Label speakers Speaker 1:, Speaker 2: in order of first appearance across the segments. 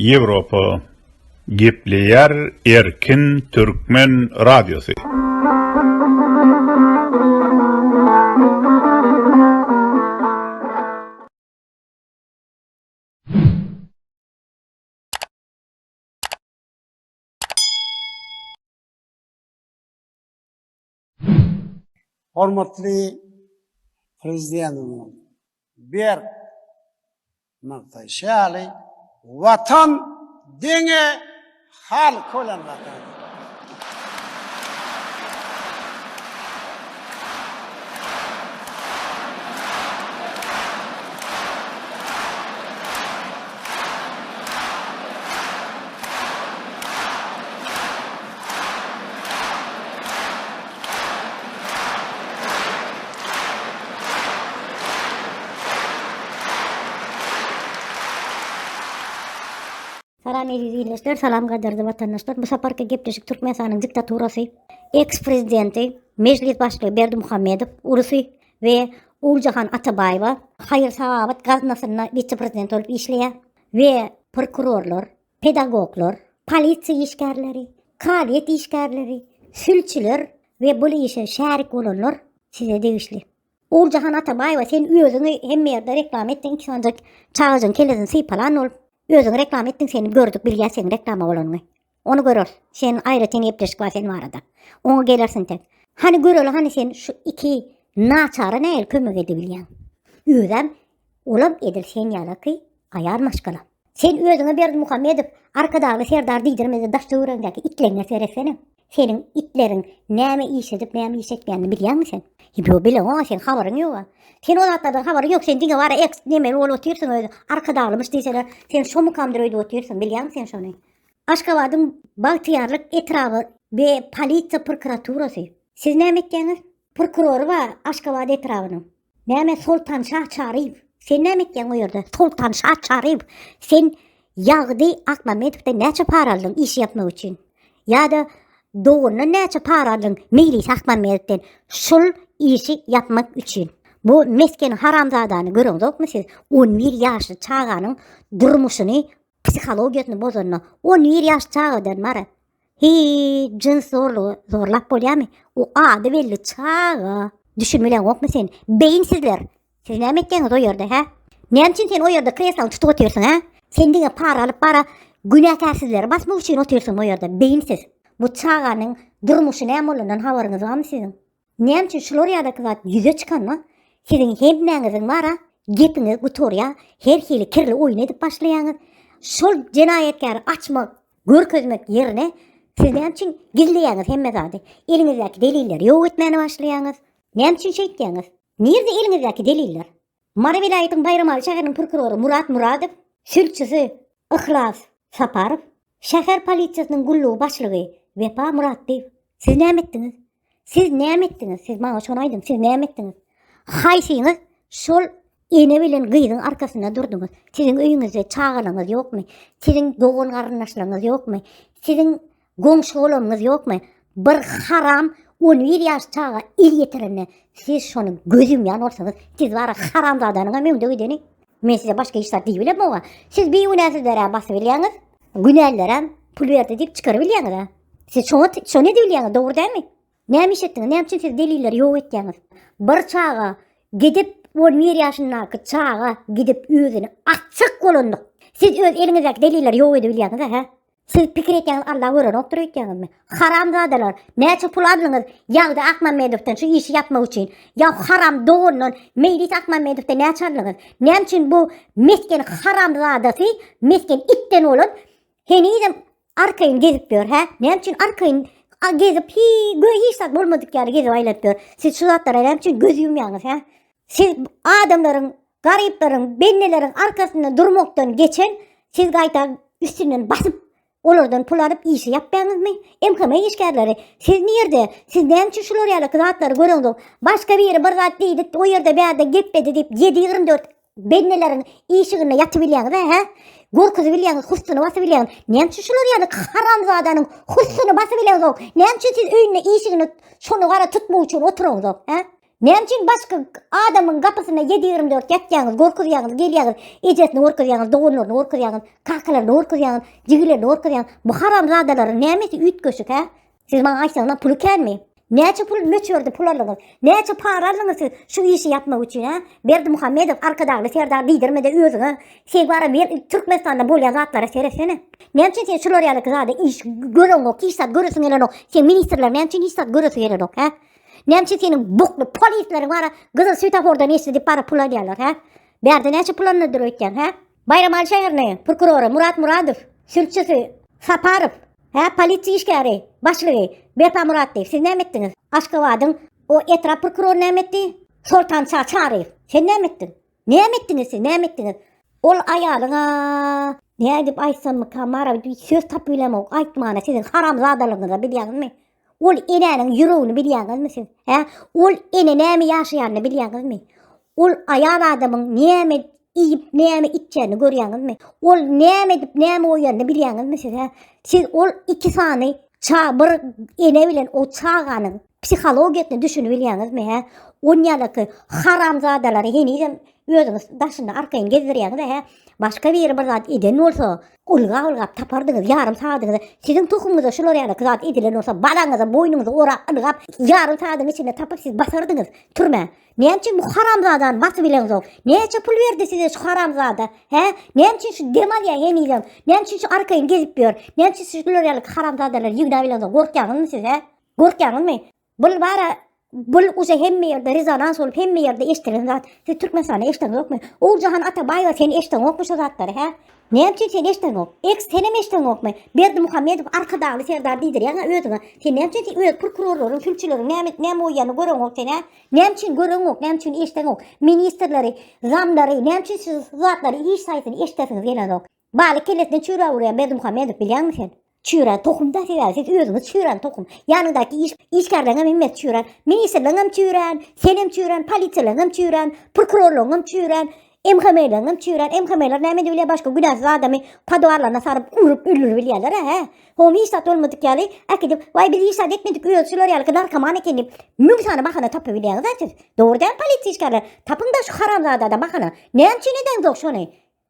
Speaker 1: Ýewropa gepleýär erkin türkmen radiosy.
Speaker 2: Hormatly Prezidentimiziň berk nygtaýşy ýaly, Watan deňe halk bilen gatar.
Speaker 3: Salam eziz ildeşler, salam gaderli vatandaşlar. Bu saparky gepleşik Türkmenistanyň diktaturasy, eks-prezidenti, mejlis başlygy Berdi Muhammedow, urusy we Uljahan Atabaýewa, haýyr-sahabat gaznasyna wise-prezident bolup işleýär we prokurorlar, pedagoglar, polisiýa işgärleri, kazyýet işgärleri, sülçüler we bul işe şärik bolanlar size degişli. Oguljahan Atabaýewa sen özüňi hemme ýerde reklama etdiň iki sany çagajyň kellesini sypalan bolup özüňi reklama etdiň seni gördük bilýäs seň reklama bolanyňy. Ony göreris. Sen aýratyn gepleşik bar sen barada. Oňa gelersiň sen. Hany göreli hany sen şu iki naçara näil kömek edebilýäň. Özem Olam edil sen ýalaky aýal maşgala. Sen özüňe Berdimuhamedow Arkadagly serdar diýdirmede daş töweregiňdäki itleňňe seretsene. Seniň itleriň näme iş edip näme iş etmeýänini bilýäňmi sen? Ýo bileňoga sen habaryň ýoga. Sen o zatlardan habaryň ýok sen diňe bara eks nemeli bolup otyrsyň özi Arkadaglymyş diýseler sen şo mukamdyr öýdüp otyrsyň bilýäňmi sen şony. Aşgabadyň Bagtyýarlyk etraby be polisiýa prokuraturasy. Siz näme etýäňiz? Prokurory bar Aşgabat etrabynyň. Näme Soltan şa Çaryýew? Sen näme etýäň o ýerde? Soltan şa Çaryýew, sen Ýagdy Akmämmedowden näçe para aldyň işi ýapmak üçin? Ýa-da dogandan näçe para aldyň Meýlis Akmämmedowden şul işi ýapmak üçin? Bu mesken haramzadany göreňzokmy siz? On bir ýaşly çaganyň durmuşyny, psihologiýasyny bozanyna, on bir ýaşly çagadan bara Hii, jyns zorlugy zorlap bolýamy? O ady belli çaga. Düşün bilen okmy sen? Beyin sizler. Siz näme etýäňiz o ýerde, hä? Näme üçin sen o ýerde kreslaň tutup otyrsyň, hä? Sen diňe para alyp bara günäkärsizleri basmak üçin otyrsyň o ýerde, beyin siz. Bu çaganyň durmuşy näme bolandan habaryňyz barmy siziň? Näme üçin şular ýadaky zat ýüze çykanda siziň hemmäňiziň bara gepiňiz gutarýar, her hili kirli oýun edip başlaýaňyz. Şol jenaýatkary açmak, görkezmek ýerine siz näme üçin gizleýäňiz hemme zady? Eliňizdäki delilleri ýok etmäne başlaýaňyz. Näme üçin şeýtýäňiz? Nirde eliňizdäki deliller? Mary welaýatyň Baýramaly şäheriniň prokurory Murat Muradow, sülçüsi Yhlas Saparow, şäher polisiýasynyň gullugy başlygy Wepa Muratdyýew. Siz näme etdiňiz? Siz näme etdiňiz? Siz maňa şony aýdyň, siz näme etdiňiz? Haýsyňyz şol ene bilen gyzyň arkasynda durduňyz? Siziň öýüňizde çagalaryňyz ýokmy? Siziň dogan-garyndaşlaryňyz ýokmy? Siziň Goňşy bolanyňyz ýokmy? Bir haram on bir ýaş çaga el ýetirende siz şony göz ýumýan bolsaňyz, siz bara haramzadanyňam öňde gideni. Men size başga hiç zat diýibilem oňa. Siz bigünäsizlerä basybilýäňiz. Günälilerem pul berdi diýip çykarybilýäňiz-ä. Siz şoňa şony edibilýäňiz, dogry dälmi? Näme iş etdiňiz? Näme üçin siz delilleri ýok etýäňiz? Bir çaga gidip on bir ýaşyndaky çaga gidip özüni açjak bolandyk. Siz öz eliňizdäki delilleri ýok edibilýäňiz-ä, hä? Siz pikir etýäňiz Allah görenokdyr öýtýäňizmi? Haramzadalar, näçe pul aldyňyz Ýagdy Akmamedowdan şu işi ýapmak üçin? Ýa haram dogandan Meýlis Akmamedowdan näçe aldyňyz? Näme üçin bu mesgen haramzadasy, mesgen itden bolan henizem arkaýyn gezip ýör, hä? Näme üçin arkaýyn gezip hi göý hiç zat bolmadyk ýaly gezip aýlanyp ýör? Siz şu zatlara näme üçin göz ýumýaňyz, hä? Siz adamlaryň garyplaryň, bendelerin arkasynda durmakdan geçen, siz gaýta üstünden basyp, olardan pul alyp işi ýapýaňyzmy? MHM işgärleri, siz nirde? Siz näme üçin şular ýaly zatlary göreňzok? Başga biri bir zat diýdi, o ýerde bärde gepledi diýip, ýedi ýigrimi dört bendeleriň işiginde ýatybilýäňiz, hä? Gorkuzybilýäňiz, hussuny basybilýäňiz. Näme üçin şular ýaly haramzadanyň hussuny basybileňzok? Näme üçin siz öýünde işigini şuny gara tutmak üçin oturaňzok, hä? Näme üçin başga adamyň gapysyna 7-24 ýatýaňyz, gorkuzýaňyz, gelýäňiz, ejesini gorkuzýaňyz, doganlaryny gorkuzýaňyz, kakalaryny gorkuzýaňyz, jigilerini gorkuzýaňyz. Bu haramzadalaryň nämesi üýtgeşik hä? Siz maňa aýtsaňyzam puly känmi? Näçe pul möçberde pul aldyňyz? Näçe para aldyňyz siz şu işi ýapmak üçin hä? Berdimuhamedow, Arkadagly Serdar diýdirmede özüňe. Sen bara bir Türkmenistanda bolýan zatlara seretsene. Näme üçin sen şular ýaly zada iş göreňok, hiç zat göresiň gelenok. Sen ministrler näme üçin hiç zat göresi gelenok hä? Nämçe seniň bukly polisleriň bara gyzyl svetofordan geçdi diýip bara pul alýarlar, hä? Bärde näçe pul alnydyr öýtýän, hä? Baýramaly şäherine prokurory Murat Muradow, sülçüsi Saparow, hä, polisiýa işgäri, başlygy Berpa Muratdy. Siz näme etdiňiz? Aşgabadyň o etrap prokurory näme etdi? Soltan Şa Çaryýew. Sen näme etdiň? Näme etdiňiz siz? Näme etdiňiz? Ol aýalyňa nädip aýtsammyka mara söz tapylamok aýtmana siziň haramzadalygyňyza bilýäňizmi? Ol enäniň ýüregini bilýäňizmi siz? Hä? Ol ene näme ýaşaýanyny bilýäňizmi? Ol aýal adamyň näme iýip, näme içýäni görýäňizmi? Ol näme edip, näme oýanyny bilýäňizmi siz? Hä? Siz ol iki sany ça bir ene bilen o çaganyň psihologiýasyny düşünip bilýäňizmi? Hä? On ýalaky haramzadalary henizem özüňiz daşynda arkaýyn gezdirýäňiz, hä? Başga biri bir zat eden bolsa, Ylgap-ylgap tapardyňyz, ýarym sagadyňyza siziň tohumyňyza şular ýalyky zat edilen bolsa, balaňyza, boýnuňyza orap, ylgap, ýarym sagadyň içinde tapyp siz basardyňyz türmä. Näme üçin bu haramzadany basyp ileňsoň? Näçe pul berdi size şu haramzada? Hä? Näme üçin şu dem alýar henizem? Näme üçin şu arkaýyn gezip ýör? Näme üçin siz şular ýalyky haramzadalary ýygnap ileňsoň, gorkýaňyzmy siz, hä? Gorkýaňyzmy? Bul bara bul uze hemme ýerde rezonans bolup hemme ýerde eşdilen zat. Siz Türkmenistanda eşden ýokmy? Oguljahan Atabaýewa sen eşden ýokmy şu zatlary hä? Näme üçin sen eşden ýok? Eks sen hem eşden ýokmy? Berdi Muhammedow Arkadagly serdar diýdirýäňä özüňe. Sen näme üçin sen öz prokurorlaryň, sülçüleriň näme näme oýýany göreň ýok sen hä? Näme üçin göreň ýok? Näme üçin eşden ýok? Ministrleri, zamlary näme üçin siz zatlary hiç saýsyny eşdesiňiz gelen ýok? Baly kellesine çüra urýan Berdimuhamedow bilýäňmi sen? Çüra tohumda sebäbi siz özüňiz çüran tohum. Ýanyňdaky iş işgärleriňem hemmesi çüran. Ministrleriňem çüran, senem çüran, polisiýalaryňam çüran, prokurorlaryňam çüran. MHM-leriňem çüran. MHM-ler näme edip bilýär? Başga günäsiz adamy podwarlaryna saryp, urup, öldürip bilýärler hä? Hom hiç zat bolmadyk ýaly äkidip, waý biz hiç zat etmedik, özi şular ýaly narkoman eken diýip, müň sany bahana tapyp bilýäňiz-ä siz. Dogry däl polisiýa işgärler? Tapyň-da şu haramzadada bahana. Näme üçin edeňzok şony?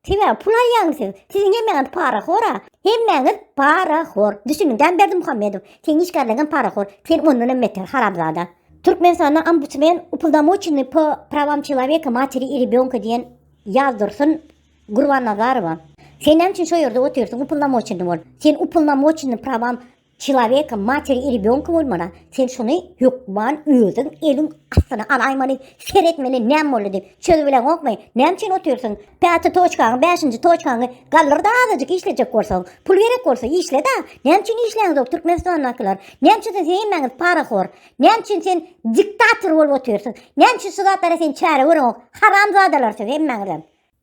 Speaker 3: Sebäbi pul alýaňyz siz. Siziň hemmäňiz parahora. Hemmäňiz parahor. Düşüniň, Jan Berdimuhamedow, seň işgärleň hem parahor. Sen ondan hem beter, haramzada. Türkmenistanda ombudsmen upoldamochenny po prawam çeloweka, materi i rebёnka diýen ýazdursyn Gurbannazarowa. Sen näme üçin şo ýerde otyrsyň upoldamochenny bolup? Sen upoldamochenny prawam Çilaweka materi i rebýonka bolmana sen şuny hökman özüň eliň astyna alaýmaly ser etmeli näm boldy diýip çözüp bileňokmy näme üçin otyrsyň päti toçkaňy bäşinji toçkaňy galdyrda azajyk işlejek bolsaň pul gerek bolsa işleda näme üçin işleýäňzok türkmenistandakylar näme üçin siz hemmäňiz parahor näme üçin sen diktator bolup otyrsyň näme üçin şu zatlara sen çäre göreňok haramzadalar siz hemmäňizem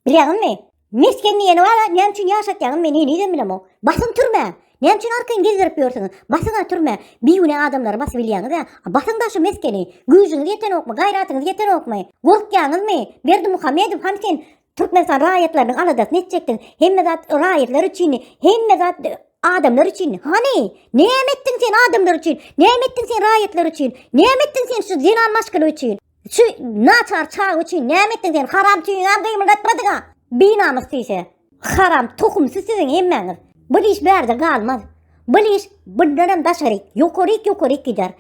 Speaker 3: Bilýäňizmi? Mesgen diýeni bar, näme üçin ýaşatýaňyz meni henizem bilemok. Basyň türmä! Näme üçin arkaýyn gezdirip ýörsüňiz? Basyň-a türmä! Bigünä adamlary basyp bilýäňiz-ä. Basyň-da şu meskeni! Güýjüňiz ýetenokmy, gaýratyňyz ýetenokmy? Gorkýaňyzmy? Berdimuhamedow han sen Türkmenistan raýatlarynyň aladasyny etjekdiň. Hemme zat raýatlar üçindi. Hemme zat adamlar üçindi. Hany? Näme etdiň sen adamlar üçin? Näme etdiň sen raýatlar üçin? Näme etdiň sen şu zenan maşgala üçin? Şu naçar çaga üçin näme etdiň sen? Haram tüýüňem gymyldatmadyňa. Binamys tüýse. Haram tohumsy siziň hemmäňiz. Bu iş bärde galmaz. Bu iş bundan hem daşary ýokary ýokary gider.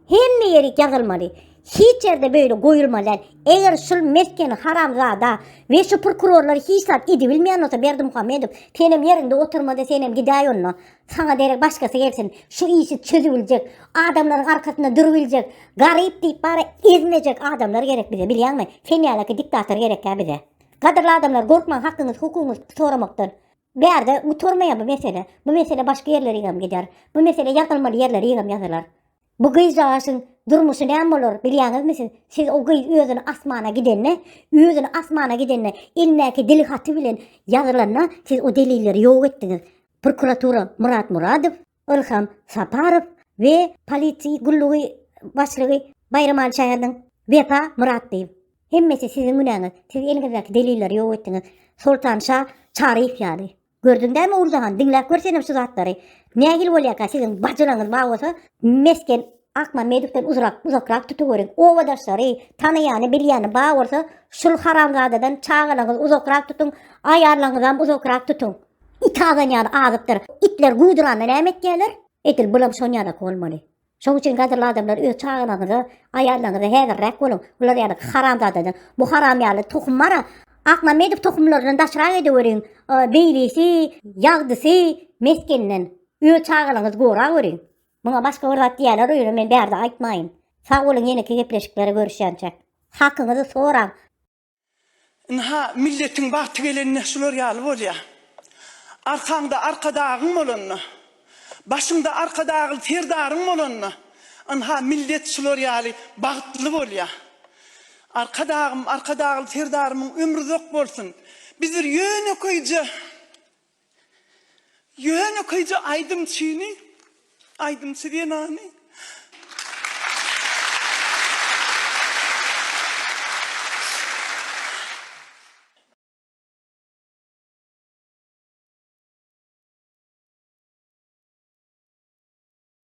Speaker 3: Hemme ýeri ýazylmaly. Hiç ýerde böyle goýulmaly. Eger şul mesken haramzada we şu prokurorlar hiç zat edibilmeýän bolsa Berdi Muhammedow senem ýerinde oturmada senem gidäý onda. Saňa derek başgasy gelsin. Şu işi çözübiljek, adamlaryň arkasynda durubiljek, garyp diýip bara ezmejek adamlar gerek bize, bilýäňmi? Sen ýalaki diktator gerekkä bize. Gadyrly adamlar, gorkmaň hakyňyz, hukugyňyz soramakdan. Bärde gutarmaýar bu mesele. Bu mesele başga ýerlerigem gider. Bu mesele ýazylmaly ýerlerigem ýazylar. Bu gyzjagaşyň durmuşy näme bolar, bilýäňizmi siz? Siz o gyz özüni asmana gidende, özüni asmana gidende, elindäki dil haty bilen ýazylanda siz o delilleri ýok etdiňiz. prokuratura Murat Muradow, Ilham Saparow we polisiýa gullugy başlygy Baýramaly Şäherden Wepa Myratlyýew. Hemmesi siziň günäňiz, siz eliňizdäki delilleri ýok etdiňiz. Soltan şa Çaryýew ýaly. Gördüň dämi Urzahan, diňläp gör senem şu zatlary. Nähili bolýarka siziň bajylaňyz bar bolsa, mesgen Akman Medikden uzrak, uzakrak tutuveriň. Obadaşlary, tanaýany, bilýäni bar bolsa, şul haramzadadan çagalaňyzy uzakrak tutuň, aýallaňyzam uzakrak tutuň. It azan ýaly azypdyr. Itler guwduranda näme etýärler? Edil bulam şon ýalak bolmaly. Şoň üçin gadyrly adamlar öz çagalaňyza, aýallaňyza häzirräk boluň. Bular ýaly haramzadadan. Bu haram ýaly tohum bara Akman Medik tohumlaryndan daşrak edeweriň. Beýlisi, ýagdysy, mesgeninden. Öz çagalaňyzy gorap öriň. Muňa başga bir zat diýerler öýüne men bärde aýtmaýyn. Sag boluň ýeneki gepleşiklere görüşýänçäk. Hakyňyzy soraň.
Speaker 4: Ynha milletiň bagty gelende şular ýaly bolýa. Arkaňda arkadagyň bolanda, başyňda arkadagly serdaryň bolanda ynha millet şular ýaly bagtly bolýa. Arkadagym, arkadagly serdarymyň ömri uzak bolsun. Biz bir ýönekeýje Ýönekeýje aýdymçyny, aýdymçy zenany